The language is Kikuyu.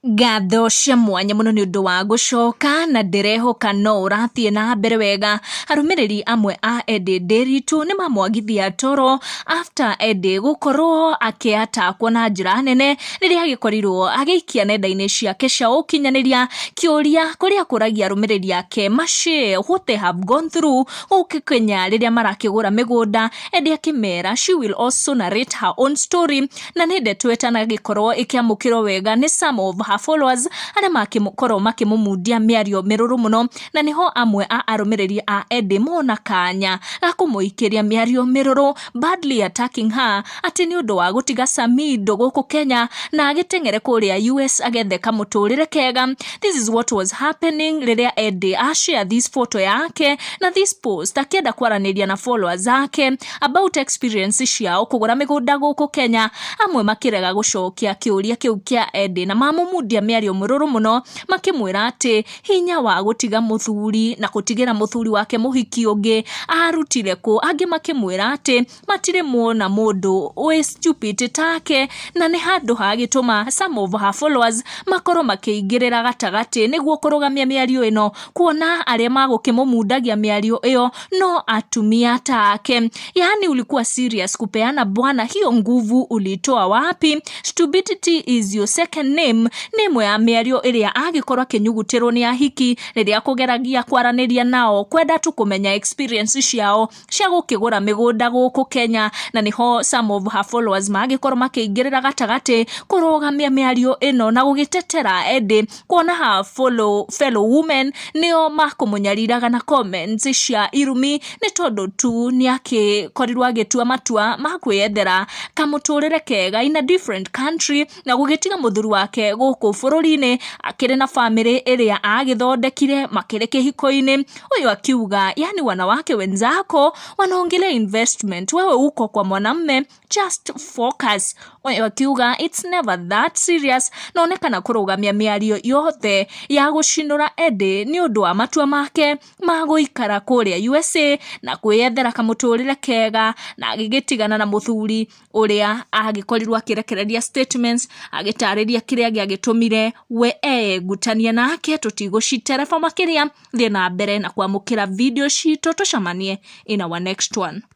Ngatho cia mwanya mũno nĩ ũndũ wa gũcoka na ndĩrehoka no ũrathiĩ na mbere wega. Arũmĩrĩri amwe a Eddie Ndiritu nĩ mamwagithia toro after Eddie gũkorwo akĩatakwo na njĩra nene rĩrĩa agĩkorirwo agĩikia nenda-inĩ ciake cia ũkinyanĩria kĩũria kũrĩa akũragia arũmĩrĩri ake ma share what they have gone through gũkũ Kenya rĩrĩa marakĩgũra mĩgũnda. Eddie akĩmera she will also narrate her own story. na nĩ ndeto ĩtanagĩkorwo ĩkĩamũkĩrwo wega nĩ some of her followers arĩa makĩkorwo makĩmũmundia mĩario mĩrũrũ mũno na nĩho amwe a arũmĩrĩri a Eddie mona kanya ga kũmũikĩria mĩario mĩrũrũ badly attacking her atĩ nĩ ũndũ wa gũtiga Samido gũkũ Kenya na agĩteng'ere kũrĩa US agethe kamũtũrĩre kega this is what was happening rĩrĩa Eddie ashare this photo yake na this post akĩenda kwaranĩria na followers zake about experience ciao kũgũra mĩgũnda gũkũ Kenya, amwe makĩrega gũcokia kĩũria kĩu kĩa Eddie na mamũmundia mĩario mĩrũrũ mũno makĩmwĩra atĩ hinya wa gũtiga mũthuri na gũtigĩra mũthuri wake mũhiki ũngĩ arutire kũ, angĩ makĩmwĩra atĩ matirĩ mona mũndũ wĩ stupid take na nĩ handũ ha gĩtũma some of her followers makorwo makĩingĩrĩra gatagatĩ nĩguo kũrũgamia mĩario ĩno kuona arĩa magũkĩmũmundagia mĩario ĩyo no atumia take yaani ulikuwa serious kupeana bwana hiyo nguvu ulitoa wapi stupidity is your second name nĩ ĩmwe ya mĩario ĩrĩa agĩkorwo akĩnyugutĩrwo nĩ ahiki rĩrĩa kũgeragia kwaranĩria nao kwenda tu kũmenya experience ciao cia gũkĩgũra mĩgũnda gũkũ Kenya, na nĩho some of her followers maragĩkorwo makĩingĩrĩra gatagatĩ kũrũgamia mĩario ĩno na gũgĩtetera ĩndĩ kuona ha follow, fellow women nĩo makũmũnyariraga na comments cia irumi nĩ tondũ tu nĩakĩkorirwo agĩtua matua ma kwĩyethera kamũtũrĩre kega in a different country na gũgĩtiga mũthuri wake gũkũ bũrũri-inĩ akĩrĩ na bamĩrĩ ĩrĩa agĩthondekire makĩrĩ kĩhiko-inĩ, huyu akiuga yani wanawake wenzako wanaongelea investment wewe uko kwa mwanamme just focus. Huyu akiuga it's never that serious, na onekana kũrũgamia mĩario yothe ya gũcinũra Eddy nĩ ũndũ wa matua make ma gũikara kũrĩa USA na kwĩyethera kamũtũrĩre kega na agĩgĩtigana na mũthuri ũrĩa angĩkorirwo akĩrekereria statements agĩtarĩria kĩrĩa gĩagĩtũmire we egutanie nake tũtigũcitereba makĩria thiĩ na mbere na kwamũkĩra video citũ tũcemanie in our next one.